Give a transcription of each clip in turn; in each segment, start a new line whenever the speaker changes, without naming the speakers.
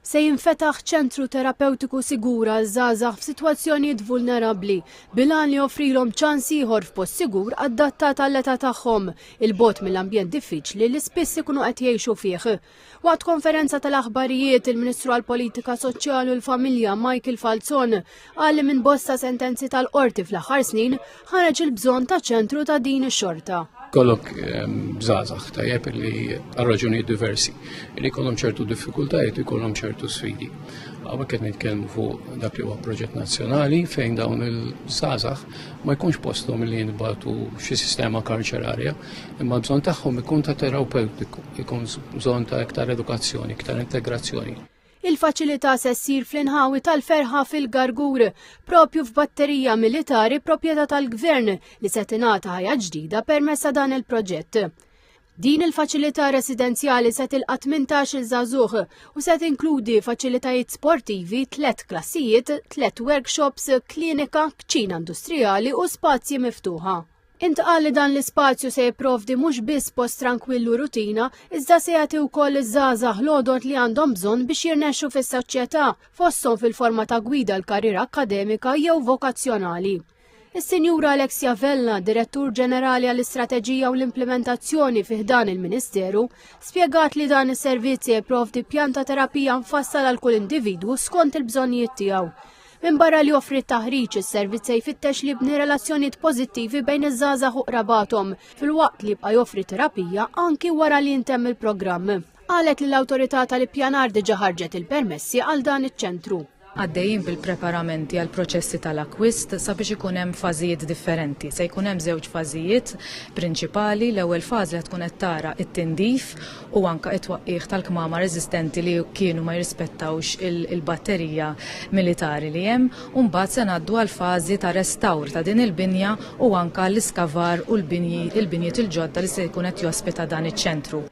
Se jinfetaħ ċentru terapewtiku sigur għal żgħażagħ f'sitwazzjonijiet vulnerabbli bil-għan li joffrilhom ċans ieħor f'post sigur adattat għall-età tagħhom, 'il bogħod mill-ambjent diffiċli li spiss ikunu qed jgħixu fih. Waqt konferenza tal-aħbarijiet, il-Ministru għall-Politika Soċjali u l-Familja Michael Falzon Qal li minn bosta sentenzi tal-qorti fl-aħħar snin ħareġ il-bżonn ta' ċentru ta' din ix-xorta kollok ehm,
zazax tajjeb li għal-raġuni diversi, li kollom ċertu diffikultajiet, li kollom ċertu sfidi. Għawek qed nitkellmu fuq dak li huwa proġett nazzjonali fejn dawn il-zazax ma jkunx postom li jinbatu xi sistema karċerarja, imma bżon tagħhom ikun ta' terapeutiku, ikun bżon ta' iktar edukazzjoni, iktar integrazzjoni. Il-faċilità
se ssir fl-inħawi tal-ferħa fil-Gargur, propju f'batterija militari proprjetà tal-Gvern li se tingħata ħajja ġdida permezz ta' dan il-proġett. Din il-faċilità residenzjali se tilqa' 18-il żagħżugħ u se tinkludi faċilitajiet sportivi, tliet klassijiet, tliet workshops, klinika, kċina industrijali u spazji miftuħa. Intqal li dan l-ispazju se jipprovdi mhux biss post trankwillu rutina, iżda se jagħti wkoll iż-żgħażagħ l-għodod li għandhom bżonn biex jirnexxu fis-soċjetà, fosthom fil-forma ta' gwida l-karriera akkademika jew vokazzjonali. Is-Sinjura Alexia Vella, Direttur Ġenerali għall-Istrateġija u l-Implimentazzjoni fi ħdan il-Ministeru, spjegat li dan is-servizz se jipprovdi pjan ta' terapija mfassal għal kull individwu skont il-bżonnijiet tiegħu. Minbarra li joffri t-taħriġ, is-servizz se jfittex li jibni relazzjonijiet pożittivi bejn iż-żgħażagħ u qrabathom, filwaqt li jibqa' joffri terapija anki wara li jintemm il-programm. Qalet li l-Awtorità tal-Ippjanar diġà ħarġet il-permessi għal dan iċ-ċentru. Għaddejjin
bil-preparamenti għall-proċessi tal-akkwist sabiex ikun hemm fażijiet differenti. Se jkun hemm żewġ fażijiet prinċipali, l-ewwel fażi ħa tkun qed tara t-tindif u anke t-twaqqigħ tal-kmamar eżistenti li kienu ma jirrispettawx il-batterija militari li hemm, u mbagħad se ngħaddu għall-fażi ta' restawr ta' din il-binja u anke l-iskavar u l-binji il-binjiet il-ġodda li se jkun qed jospita dan iċ-ċentru.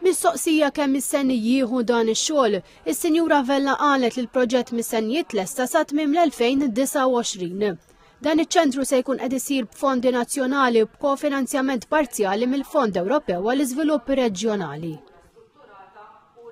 Mistoqsija
kemm mistenni jieħu dan ix-xogħol, is-Sinjura Vella qalet li l-proġett mistenni jitlesta sa tmiem l-2029. Dan iċ-ċentru se jkun qed isir b'fondi nazzjonali u b'kofinanzjament parzjali mill-Fond Ewropew għall-Iżvilupp Reġjonali.